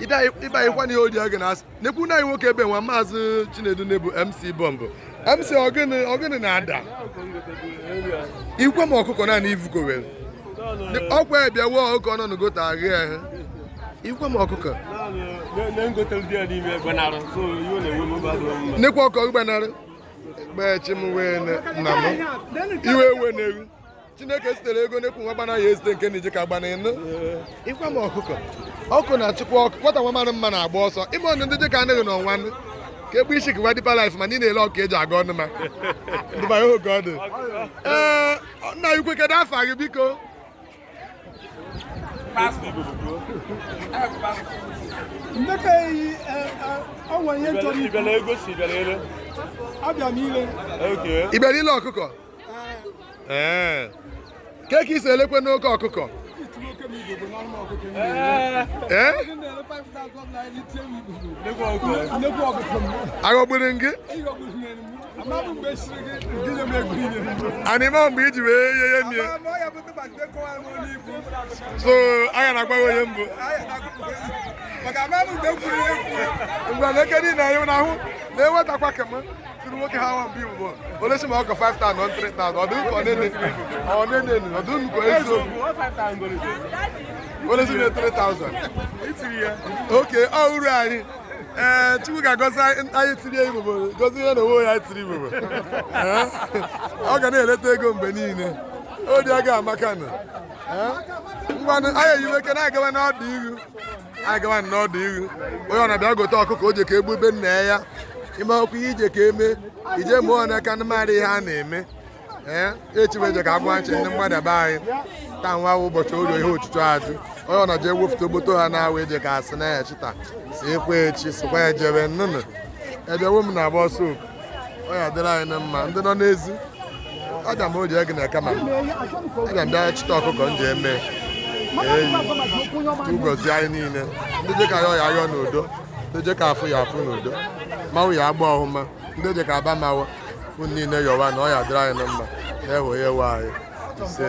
ịbanyekwa na ihe odi oge na-asị nekwu na anyị nwoke ebe nwa maazị Chinedu na-ebu MC bọmbụ MC ogene na-ada ikwe m ọkụkọ naanị ivuko were ọkwa ebiawo ọkụkọ nọ n'gote agha ehe ikwe m ọkụkọ nekwa ọkọ gbanarị gbachi m wee nna m iwe ewe na-eru chineke zitere ego n'ekwu nwa gbana ya ezite nke na-eji ka gbana ịnụ ịgwa m ọkụkọ ọkụ na-achịkwa ọkụ nwata nwa mara mma na-agba ọsọ ime ọnụ ndị dịka anaghị na ọnwa ka egbe isi gịwa Deeper Life ma ndị na-ele ọkụ eji aga ọnụ ma dụbanye oge ọ dị ee nna anyị ukwu kedu afa gị biko ndeka eyi ọnwa ihe chọrọ ibe abịa m ile ibere ile ọkụkọ ee kee ka i si elekwenụ oke ọkụkọ ee aghọgburu m gị anịma mgbe iji wee ye ihe mie so anya na-agwa gị onye mbụ maka ama m mgbe kwuru ya ekwu ngwa na eke niile anyị na-ahụ na-enwetakwa kemgbe tiri nwoke ha nwa mgbe igbo olesi ma ọkọ 5000 na 3000 ọ dụ nke ọnene ọnene ọ dụ nke eziokwu olesi na 3000 oke ọ uru anyị ee eh, chukwu ga-agọzi anyị tiri igbo gozi ihe na onwe ya tiri igbo eh? ọ ga na-eleta ego mgbe niile o dị aga amaka na eh? ngwanụ anyị eyiwe ike na-agawa n'ọdụ ihu anyị gawa n'ọdụ ihu onye ọ na-abịa gote ọkụkọ o je ka egbube nna ya ime ọkụ ihe i je ka eme ije mụọ ọnụ aka ndị mmadụ ihe a na-eme ee echibeje ka agwa nche ndị mmadụ be anyị taa nwa wụ ụbọchị ụlọ ihe ọchụchụ aja onye ọ na-eji ewepụta ogboto ha na-awụ eje ka asị na ya chita si ekwe echi sikwa ejebe nnụnụ ebewo m na-agba ọsọ oku ọ ya adịrị anyị na mma ndị nọ n'ezi aga m oji ego na kama aga m bịa chịta ọkụkọ m ji eme eyi gozi anyị niile ndị je ka yọ ya yọ n'udo ndị je ka afụ ya afụ n'udo mmanwụ ya agba ọhụma ndị je ka agba mmanwụ unu niile yọwa na ọ ya adịrị anyị na mma na-ewe ya ewe anyị ise